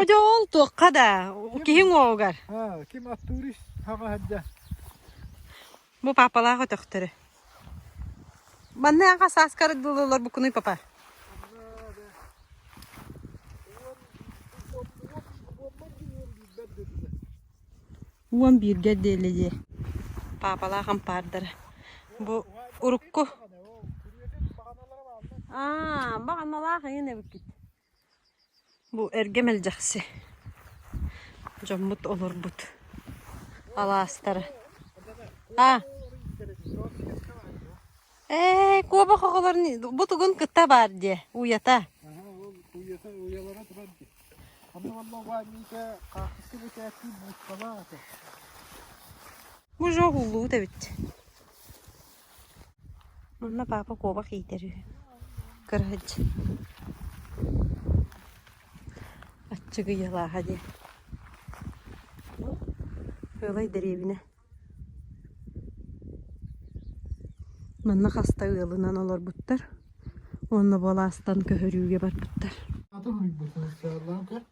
Одьоол туохха да, киһиҥ уоҕугар. Аа, ким аттуурис хаҕа садьа. Бу папалаах өтөхтөрө. Манныаха сааскарык дылылар букунуй папа. Уон бииргэ диэлэйиэ. Папалаах ампаардара. Бу урукку. Аа, баҕаналаах эйин эбиккит. Бу эргэ мэлдьэхси дьоммут олорбут алаастара аа ээ куобах оҕолор бу тугун кытта баар диэ уйата уйатын уйалара турар дии аны уонна угаанньыйга хаартыска бэчээттиир быысталаах этэ уже улуут эбит Онно папа куобах иитэр үһү, кыраһыч Аччыгыйалааһа диэн. Кыылай дэриэбинэ. Манна хаста ыалынан олорбуттар уонна бу алаастан көһөрүүгэ барбыттар.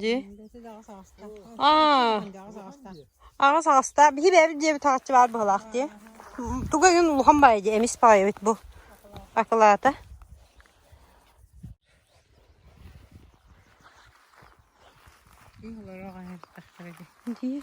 дии аҕыс аҕыста биһи бэйэбит дьиэбит таҕаччы баар быһалаах дии туга иһин улахан баайа дии эмис баайабыт бу акылаата дии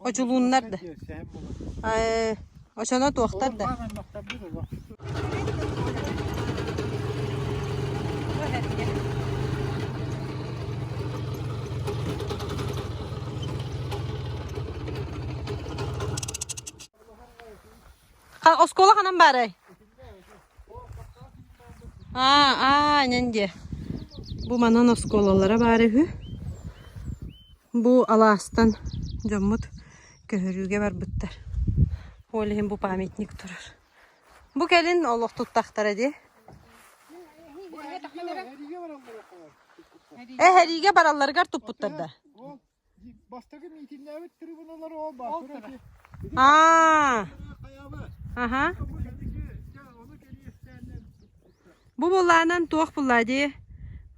Одьулууннар да очоно туохтар да оскуола ханан баарай Аа, нэн диэ Бу манан оскуолалара баара үһү Бу алаастан дьоммут көһөрүүгэ барбыттар Ол иһин бу памятник турар Бу кэлин олох туттахтара дии Эһэриигэ баралларыгар туппуттар да Бу булаанан туох буллаа дии,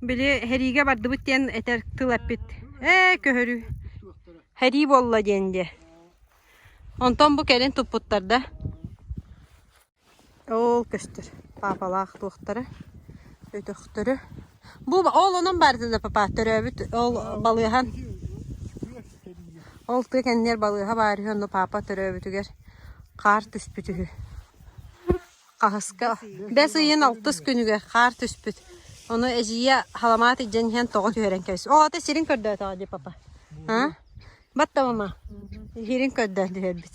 били һэриигэ бардыбыт диэн этэр тыл эппит. Ээ көһөрүү. Һэрии буолла диэн дии. Онтон бу кэлин туппуттар да. Оо, көстөр. Паапалаах туохтара, өтөхтөрө. Бу ол онон баардын да папа төрөөбүт ол балыаһан ол тыа кэннигэр балыаһа баар үһү онно паапа төрөөбүтүгэр хаар түспүт үһү. Хаһыска бэс ыйын алтыс күнүгэр хаар түспүт. Ону эдьиийэ халамаат илдьэн иһэн тоҕо түһэрэн кэбис. Оо, ата сирин көрдөөтөҕө дии папа. Аа? Бат да мама. Сирин көрдөөн түһэрбит.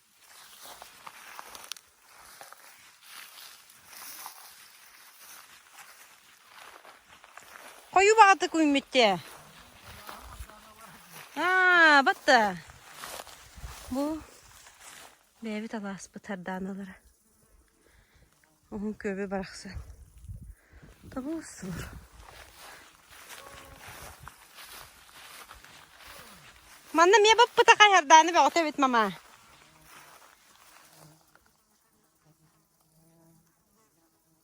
Хойу баҕатык үүммүттэ. Аа, батта. Бу бэйэбит алааспыт сардааналара. Уһун күөбү барахсан тобул-субул Манна эмиэ баппыта хайардааны бөҕөтө эбит мамаа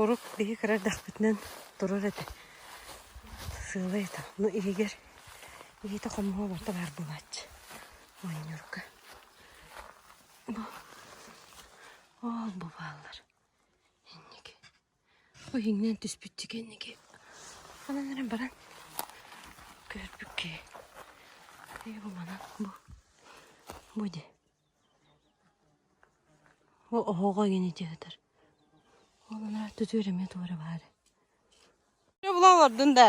Урут биһи кыра эрдэхпитинэн турар этэ сыалай этэ ону иһигэр иһитэ хомуһа оборто баар буолааччы оонньуурга бу оол бу бааллар инники Ол иҥнэн түспүттүү кэнники анан эрэн баран көрбүт киһи ээ бу манан бу бу дии ол оһоҕо игини дии сытар ол анараа түтүөр эмиэ туора баара булалардын да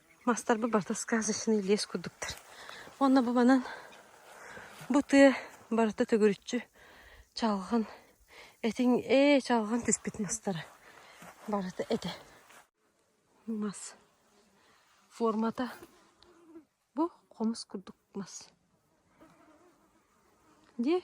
Мастарбыт барыта сказочный лес курдуктар. Уонна бу манан бу тыа барыта төгүрүччү чалган этиҥ ээ чалган түспүт мастара барыта этэ. Мас формата бу хомус курдук мас. Дии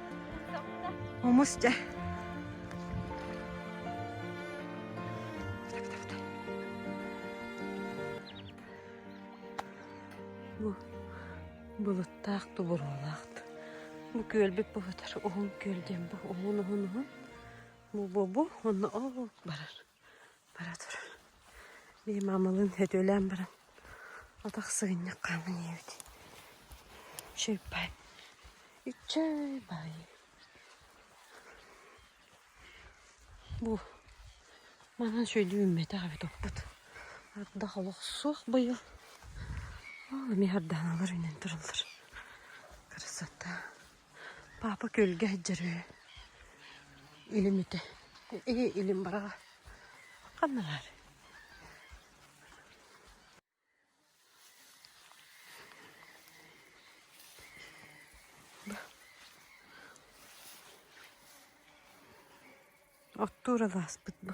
Омус дьэ. Бу былыттаах тубуруолаах Бу күөлбүт буһутар уһун күөл диэн бу уһун уһун уһун. Бу бу бу онно ол барар. бара туран мин маамалыын сөтүөлээн баран атах сыгынньах хааман ийэбит чыыппай иччай бай бу манан сөйдүү үүммэтэх эбит оппут ардах олох суох быйыл оо эмиэ ардааналар үүнэн тураллар красота Папа күөлгэ сылдьар үһү. Илим үтэ. Ээ, илим бараҕа. Ханна баар? Оттуур алааспыт бу.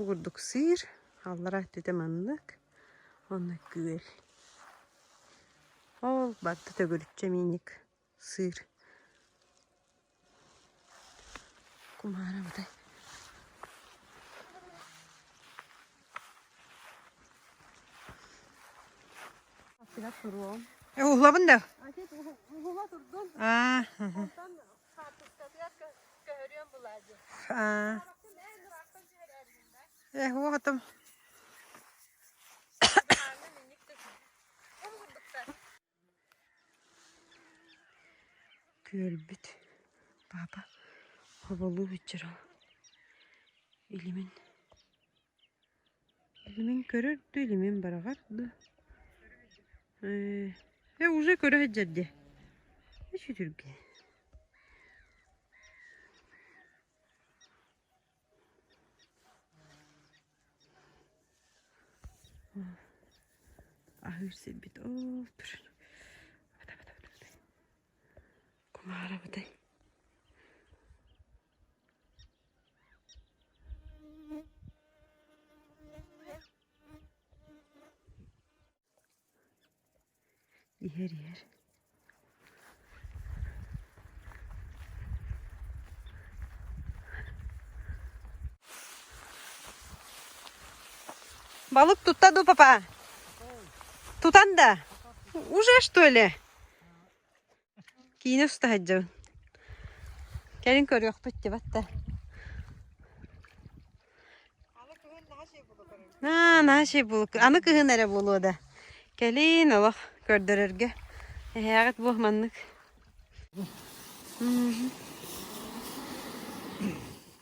Бу курдук сиир, аллара өттүтэ маннык, онно күөл. Ол барда төгүрүччэ миинньик сыыр. Кумаара бадай. Уһулабын да? А, Э, вот там. Көрбүт папа хоболуу битчера илимин Илимин көрөр да илимин бараҕар да ээ уже көрө сылдьар дии үчүтүргэ аһыыр сирбит оо турар кумаарабытай иһэр иһэр Балык тутта ду, папа? Тутан да? Уже, что ли? Киинэ уста сылдьабын. Кэлин көрүөхпүт дьыбатта. Аа, наһаа чэй булук. Аны кыһын эрэ буолуо да. Кэлин олох көрдөрөргө. Эһээҕит буох маннык.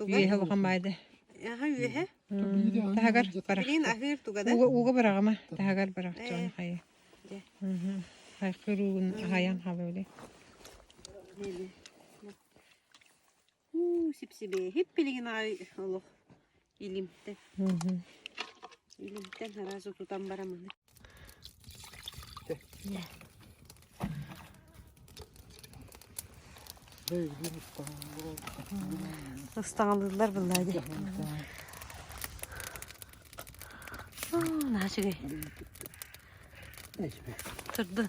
Үөһэ улахан баайда. Аха үөһэ? Таһагар бара. Билин аһыыр тугада? Ууга ууга быраҕама. Таһагар быраҕ чоҕун хайы. Дьэ. Хайкыр уугун хайан хабылы. Уу, сипсибе. Хип пилигин ай олох. Илимтэн. Илимтэн араас утутан барам аны. Ыстаҥалыыллар быллаа дии. Наачыгай. Турдун.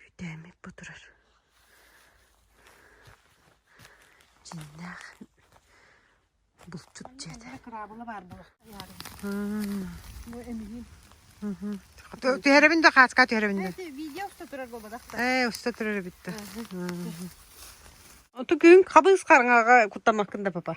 Үүтээммит бу турар. Дьиҥнээх булчут дьиэтэ. Кыраабыла баар була. Бу эмиһин. Түһэрэбин да хааска түһэрэбин да. Видео уста турар болбадахта. Ээ уста турар эбит да. Оту күн хабыс қарыңаға куттамаккын да папа.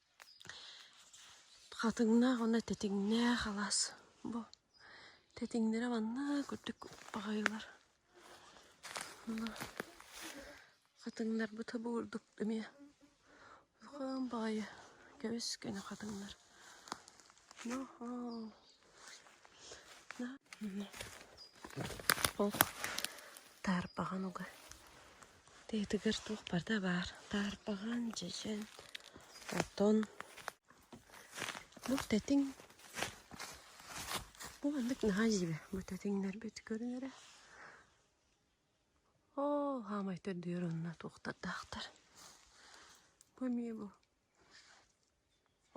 Хатыҥнаах уонна тэтиҥнээх алаас бу тэтиҥнэрэ маннык үрдүк баҕайылар. Хатыҥнарбыт бу курдук эмиэ улахан баҕайы кэбис кэнэ хатыҥнар Ох, таарпаҕан уга. Тыатыгар туох барда баар. Таарпаҕан, дьэдьэн, отон. Бу тэтиҥ. Бу маннык наһаа дьиибэ. Бу тэтиҥнэрбит көрүнэрэ. Оо, хаамай төрдүөр онно туохтардаахтар. Бу эмиэ бу.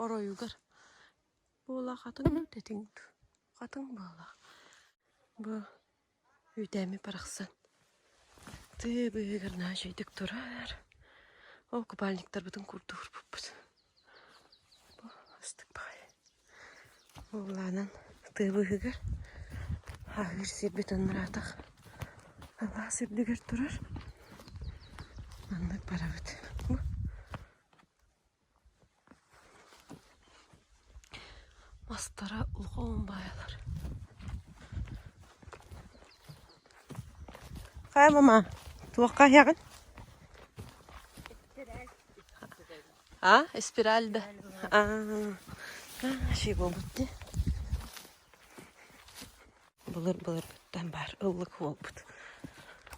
Оройугар. Буола хатыҥ дэтиҥ дуу, хатыҥ буола, бу үүтээммит барахсан тыы быыһыгар наачыйдык турар, ол купальниктарбытын курдук урбуппут. Бу ыстык баҕайы. Уоллаанан тыы быыһыгар ааһыыр сирбит ынраатах алаас үрдүгэр турар. Маннык барабыт. Бу Мастара улахан убайалар Хай, мама, туохха аһыаҕын? А, спираль да. Ши буолбут ди. Былыр былыргыттан баар ыллык буолбут.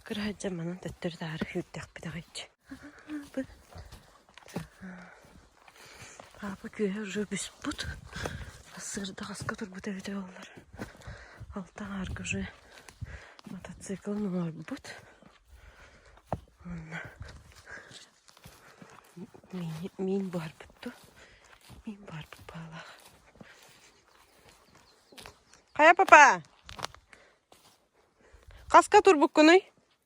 Кыраадьа манан төттөрү таары хыырдах битаҕайчы. Папа күөһэ уже бүспут. Сырда хаска турбут эбитэ боллар. Алта аарга уже мотоциклын оҥорбут. Онна миин, миин буһарбытту. Миин буһарбыт баалаах. Хайа папа? Хаска турбуккунуй?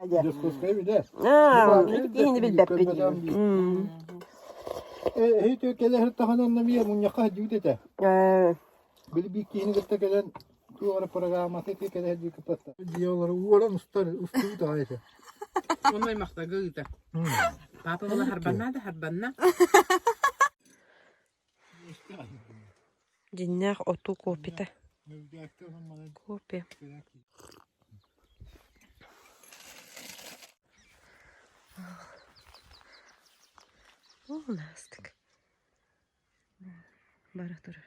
Дьокуускай бүдэ. Иһини билбэппин. Эһиити кэлэһэр таһынан намия мунньахха дьүд этэ. Били биир киһини кытта кэлэн туора программаты кэлэһэр дьү кытта. Диолары уолан устар устуут аайта. Онной махтага ыыта. Папа бала харбанна да харбанна. дьиннээх отуу копита копия уластик бара турар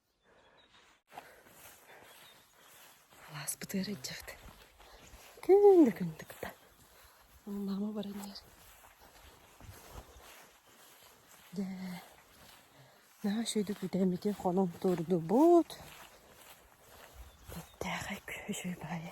Алааспыт ыарыдьыт күн да күндүк да онноомо баран иһэр дьэ наһаа үчүгэйдик бүтээммитин хонон туордубут бэттээхэй күһү үчүгэй баҕайы